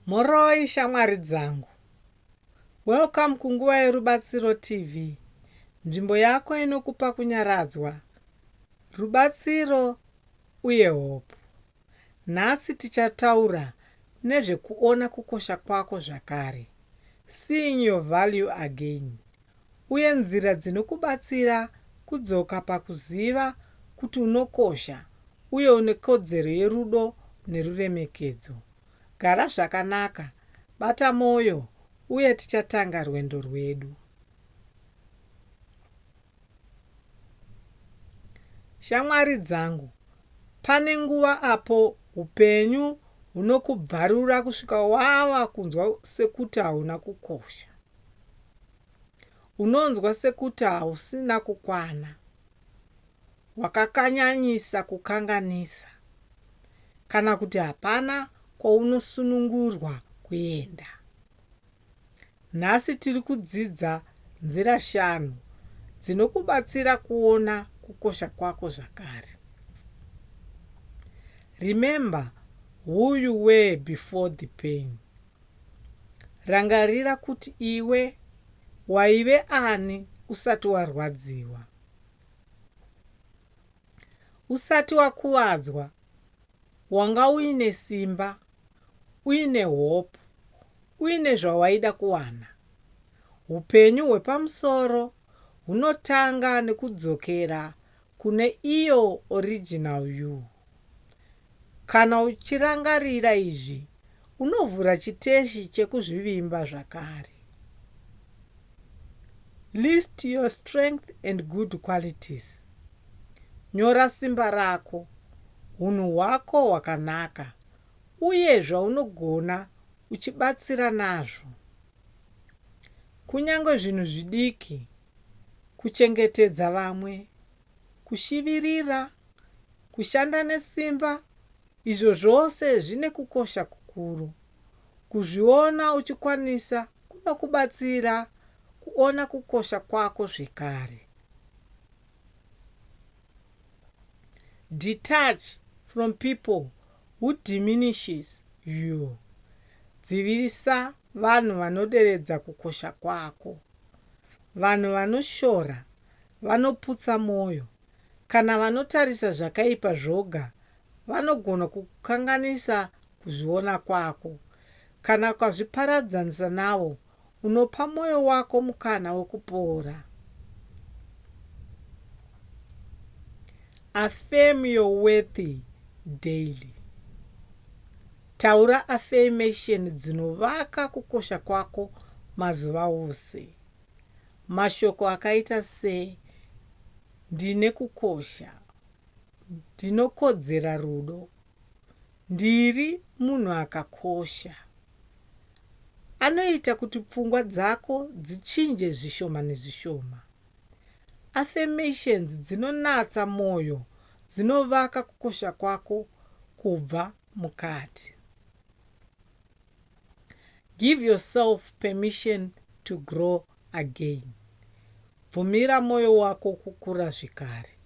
Mhoroi shamwari dzangu. Welcome kunguva yeRubatsiro TV, nzvimbo yako inokupa kunyaradzwa, rubatsiro uye hope. Nhasi tichataura nezvekuona kukosha kwako zvakare, seeing your value again, uye nzira dzinokubatsira kudzoka pakuziva kuti unokosha uye une kodzero yerudo neruremekedzo. Gara zvakanaka, bata mwoyo, uye tichatanga rwendo rwedu. Shamwari dzangu, pane nguva apo upenyu hunokubvarura kusvika wava kunzwa sekuti hauna kukosha. Unonzwa sekuti hausina kukwana, wakakanyanyisa kukanganisa, kana kuti hapana kwaunosunungurwa kuenda. Nhasi tiri kudzidza nzira shanu dzinokubatsira kuona kukosha kwako zvakare. Remember who you were before the pain. Rangarira kuti iwe waive ani usati warwadziwa. Usati wakuvadzwa, wanga uine simba, uine hope, uine zvawaida kuwana. Hupenyu hwepamusoro hunotanga nekudzokera kune iyo original yuu. Kana uchirangarira izvi unovhura chiteshi chekuzvivimba zvakare. List your strength and good qualities. Nyora simba rako, hunhu hwako hwakanaka uye zvaunogona uchibatsira nazvo. Kunyange zvinhu zvidiki kuchengetedza vamwe, kushivirira, kushanda nesimba, izvo zvose zvine kukosha kukuru. Kuzviona uchikwanisa kunokubatsira kuona kukosha kwako zvekare. Detach from people who diminishes you. Dzivirisa vanhu vanoderedza kukosha kwako. Vanhu vanoshora vanoputsa mwoyo. Kana vanotarisa zvakaipa zvoga, vanogona kukukanganisa kuzviona kwako. Kana ukazviparadzanisa navo, unopa mwoyo wako mukana wekupora. Affirm your worthy daily. Taura afeimesheni dzinovaka kukosha kwako mazuva ose. Mashoko akaita se, Ndine kukosha. Ndinokodzera rudo. Ndiri munhu akakosha. Anoita kuti pfungwa dzako dzichinje zvishoma nezvishoma. Afeimesheni dzinonatsa mwoyo dzinovaka kukosha kwako kubva mukati. Give yourself permission to grow again. Bvumira moyo wako kukura zvekare.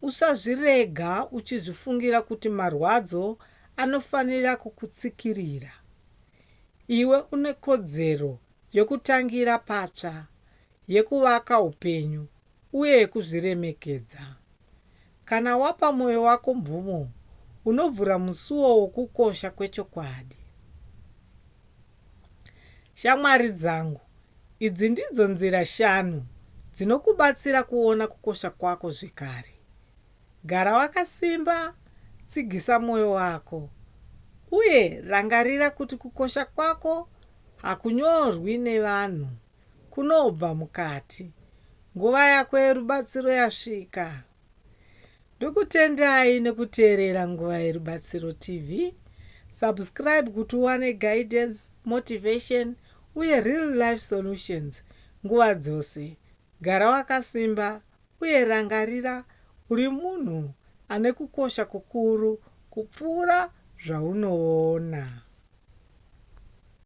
Usazvirega uchizvifungira kuti marwadzo anofanira kukutsikirira. Iwe une kodzero yokutangira patsva, yekuvaka upenyu uye yekuzviremekedza. Kana wapa mwoyo wako mvumo, unovhura musuo wokukosha kwechokwadi. Shamwari dzangu, idzi ndidzo nzira shanu dzinokubatsira kuona kukosha kwako zvekare. Gara wakasimba, tsigisa mwoyo wako, uye rangarira kuti kukosha kwako hakunyorwi nevanhu Kunobva mukati. Nguva yako yerubatsiro yasvika. Ndokutendai nekuteerera Nguva Yerubatsiro TV. Subscribe kuti uwane guidance, motivation uye real life solutions nguva dzose. Gara wakasimba uye rangarira uri munhu ane kukosha kukuru kupfuura zvaunoona.